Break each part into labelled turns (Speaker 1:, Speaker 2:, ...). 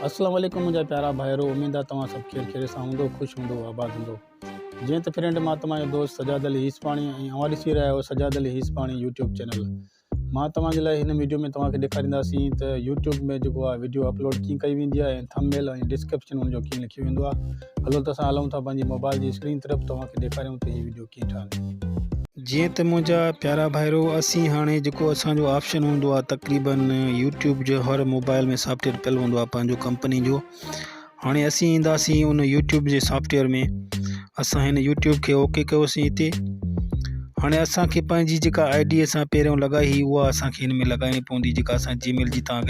Speaker 1: اسلام عليڪم منهنجا پيارا ڀائرو اميد آ توهان سڀ خير خيريت سان هوندو خوش هوندو آباد هوندو جيئن ته فرينڊ مان توهان جو دوست سجاد علي هيسپاڻي ۽ اوهان ڏسي رهيا آهيو سجاد علي هيسپاڻي يوٽيوب چينل مان توهان جي لاء هن ويڊيو ۾ توهان کي ڏيکارينداسين ته يوٽيوب ۾ جيڪو آ ويڊيو اپلوڊ ڪيئن ڪئي ويندي آهي ۽ ٿم ميل ۽ ڊسڪرپشن ان جو ڪيئن لکيو ويندو آ هلو ته اسان هلون ٿا پنهنجي موبائل جي اسڪرين طرف توهان کي ڏيکاريون ته هي ويڊيو ڪيئن ٺاهي. جيئن ته منهنجا پيارا ڀائرو اسين هاڻي جيڪو اسان جو آپشن هوندو آهي تقريبا يوٽيوب جو هر موبائل ۾ سافٽويئر پيل هوندو آهي پنهنجو ڪمپني جو هاڻي اسين اينداسين ان يوٽيوب جي سافٽويئر ۾ اسان هن يوٽيوب کي اوڪي ڪيوسين هتي هاڻي اسانکي پنهنجي جيڪا آئي ڊي اسان پهريون لڳائي هئي اها اسانکي هن ۾ لڳائڻي پوندي جيڪا اسان جي ميل جي تان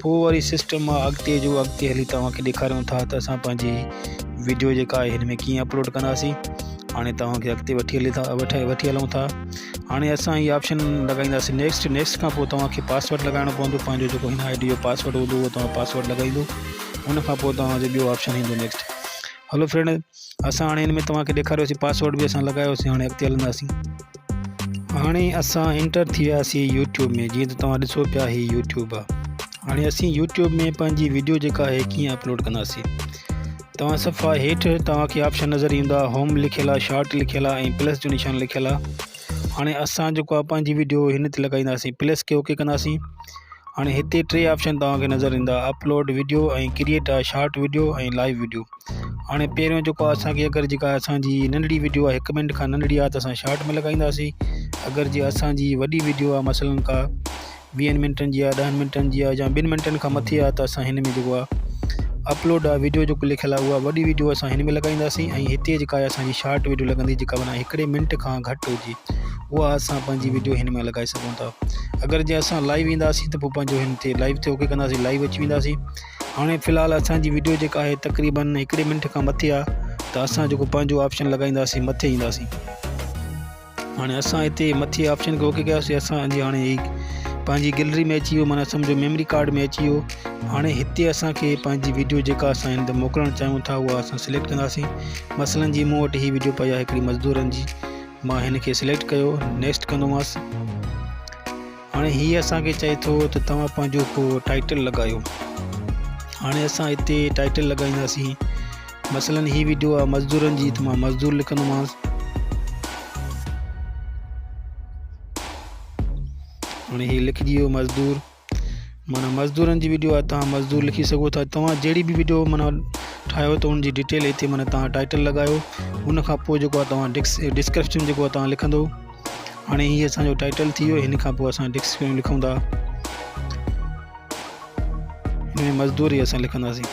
Speaker 1: پوء وري سسٽم مان اڳتي جو اڳتي هلي توهان کي ڏيکاريون ٿا ته اسان پنهنجي ويڊيو جيڪا آهي هن ۾ ڪيئن اپلوڊ ڪنداسين هاڻي توهان کي اڳتي وٺي هلي ٿا وٺي وٺي هلون ٿا هاڻي اسان هي آپشن لڳائينداسين نيڪسٽ نيڪسٽ کان پوء توهان کي پاسورڊ لڳائڻو پوندو پنهنجو جيڪو هن آئي ڊي جو پاسورڊ هوندو اهو توهان پاسورڊ لڳائيندو ان کان پوء توهان جو ٻيو آپشن ايندو نيڪسٽ هلو فرينڊ اسان هاڻي ان ۾ توهان کي ڏيکاريوسي پاسورڊ به اسان لڳايوسي هاڻي اڳتي هلنداسين هاڻي اسان انٽر ٿي وياسي يوٽيوب ۾ جيئن ته توهان ڏسو پيا هي يوٽيوب آ هاڻي اسين يوٽيوب ۾ پنهنجي ويڊيو جيڪا آهي ڪيئن اپلوڊ ڪنداسي توهان صفحا هيٺ توهان کي آپشن نظر ايندا هوم لکيل آ شارٽ لکيل آ ۽ پلس جو نشان لکيل آ هاڻي اسان جيڪو آ پنهنجي ويڊيو هن تي لڳائينداسي پلس کي اوڪي ڪنداسي هاڻي هتي ٽي آپشن توهان کي نظر ايندا upload video ۽ create a short video ۽ live video هاڻي پهريون جيڪو اسان کي اگر جيڪا اسان جي ننڍڙي وڊيو آهي هڪ منٽ کان ننڍڙي آهي ته اسان شارٽ ۾ لڳائينداسين اگر جي اسان جي وڏي وڊيو آهي مثلا ڪا ويهن منٽن جي آهي ڏهن منٽن جي آهي يا ٻن منٽن کان مٿي آهي ته اسان هن ۾ جيڪو آهي اپلوڊ آ ويڊيو جو لکيل آ اها وڏي ويڊيو اسان هن ۾ لڳائينداسين ۽ هتي جيڪا آهي اسان جي شارٽ ويڊيو لڳندي جيڪا معنی هڪڙي منٽ کان گهٽ هجي اها اسان پنهنجي وڊيو هن ۾ لڳائي سگهون ٿا اگر جي اسان لائيو اينداسين ته پوء پنهنجو هن تي لائيو تي اوڪي ڪنداسين لائيو اچي وينداسين هاڻي في الحال اسانجي وڊيو جيڪا آهي تقريبن هڪڙي منٽ کان مٿي آهي ته اسان جيڪو پنهنجو آپشن لڳائينداسين مٿي اينداسين هاڻي اسان هتي مٿي آپشن کي اوڪي ڪياسين اسانجي هاڻي هي پنهنجي گيلري ۾ اچي ويو مانا سمجھو ميموري ڪارڊ ۾ اچي ويو هاڻي هتي اسانکي پنهنجي وڊيو جيڪا اسان هن تي موڪلڻ چاهيون ٿا اها اسان سليڪٽ ڪنداسين مثلا جي مون وٽ هي وڊيو پئي آهي هڪڙي مزدورن جي مان هن کي سليڪٽ ڪيو نيڪسٽ ڪندوماس هاڻي هي اسان کي چئي ٿو ته توهان پنهنجو ڪو ٽائٽل لڳايو هاڻي اسان هتي ٽائٽل لڳائينداسين مثلا هي ويڊيو آ مزدورن جي ته مان مزدور لکندوماس هاڻي هي لکجي ويو مزدور معنيٰ مزدورن جي ويڊيو آهي تان مزدور لکي سگهو ٿا توهان جهڙي به ويڊيو معنيٰ ٺاهيو ته ان جي ڊيٽيل هتي معنيٰ توهان ٽائيٽل لڳايو ان کان پوء جيڪو آهي توهان ڊڪس ڊسڪرپشن جيڪو آهي توهان لکندو هاڻي هي اسانجو ٽائيٽل ٿي ويو هن کان پوء اسان ڊسڪرپشن لکون ٿا هن ۾ مزدور ئي اسان لکنداسين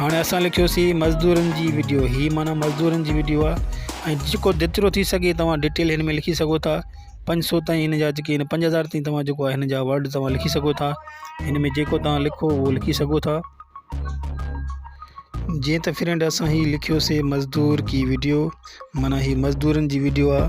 Speaker 1: هاڻي اسان لکيوسين مزدورن جي وڊيو هي معنيٰ مزدورن جي وڊيو آهي ۽ جيڪو جيترو ٿي سگهي توهان ڊيٽيل هن ۾ لکي سگهو ٿا پنج سو تائين هن جا جيڪي آهن پنج هزار تائين توهان جيڪو آهي هن جا ورڊ توهان لکي سگهو ٿا هن ۾ جيڪو توهان لکو اهو لکي سگهو ٿا جيئن ته فرينڊ اسان هي لکيوسين مزدور ڪي وڊيو معنيٰ هي مزدورن جي وڊيو آهي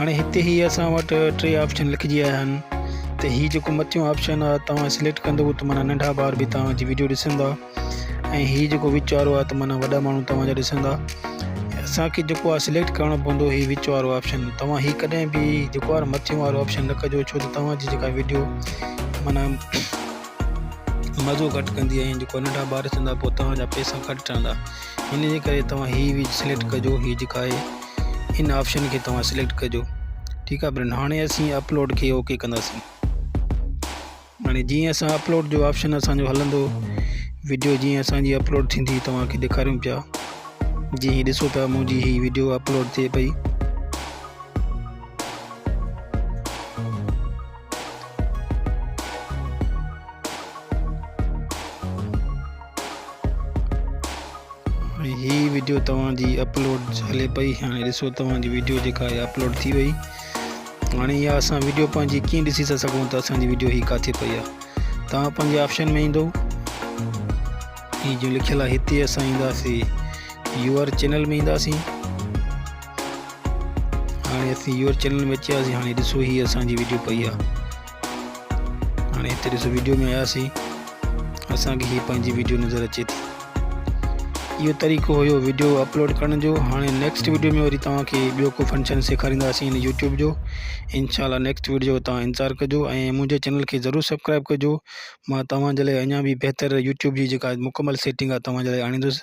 Speaker 1: هاڻي هتي هي اسان وٽ ٽي آپشن لکجي آيا آهن ته هي جيڪو مٿيون آپشن آهي توهان سليڪٽ ڪندو ته معنيٰ ننڍا ٻار به توهان جي ويڊيو ڏسندا ۽ هي جيڪو وچ وارو آهي ته معنيٰ وڏا ماڻهو توهان جا ڏسندا اسان کي جيڪو آهي سليڪٽ ڪرڻو پوندو هي وچ وارو آپشن توهان هي ڪڏهن به جيڪو آهي مٿيون وارو آپشن نه ڪجو ڇو ته توهان جي جيڪا ويڊيو معنيٰ مزو گهٽ ڪندي ۽ جيڪو ننڍا ٻار چوندا پوء توهان جا پئسا گهٽ ٺهندا ان جي ڪري توهان هي ويج سليڪٽ ڪجو هي جيڪا آهي ان آپشن کي توهان سليڪٽ ڪجو ٺيڪ آهي برن هاڻي اسين اپلوڊ کي اوڪي ڪنداسين هاڻي جيئن اسان اپلوڊ جو آپشن اسانجو هلندو ويڊيو جيئن اسانجي اپلوڊ ٿيندي توهان کي ڏيکاريون پيا جي هي ڏسو پيا منهنجي هي ويڊيو اپلوڊ ٿئي پئي هي ويڊيو توهان جي اپلوڊ هلي پئي هاڻي ڏسو توهان جي ويڊيو جيڪا آهي اپلوڊ ٿي وئي هاڻي اها اسان ويڊيو پنهنجي ڪيئن ڏسي ٿا سگهون ته اسان جي ويڊيو هي ڪاٿي پئي آهي توهان پنهنجي آپشن ۾ ايندو هي جو لکيل آهي هتي اسان اينداسين يو آر چينل ۾ اينداسين هاڻي اسين يور چينل ۾ اچي وياسين هاڻي ڏسو هي اسان جي ويڊيو پئي آ هاڻي هتي ڏسو ويڊيو ۾ آياسين اسان کي هي پنهنجي ويڊيو نظر اچي ٿي اهو طريقو هيو ويڊيو اپلوڊ ڪرڻ جو هاڻي نيڪسٽ ويڊيو ۾ وري توهان کي ٻيو ڪو فنڪشن سيکارينداسين هن يوٽيوب جو انشاء الله نيڪسٽ ويڊيو جو توهان انتظار ڪجو ۽ منهنجي چينل کي ضرور سبسڪرائب ڪجو مان توهان جي لاء اڃا به بهتر يوٽيوب جي جيڪا مڪمل سيٽنگ آ توهان جي لاء آڻيندس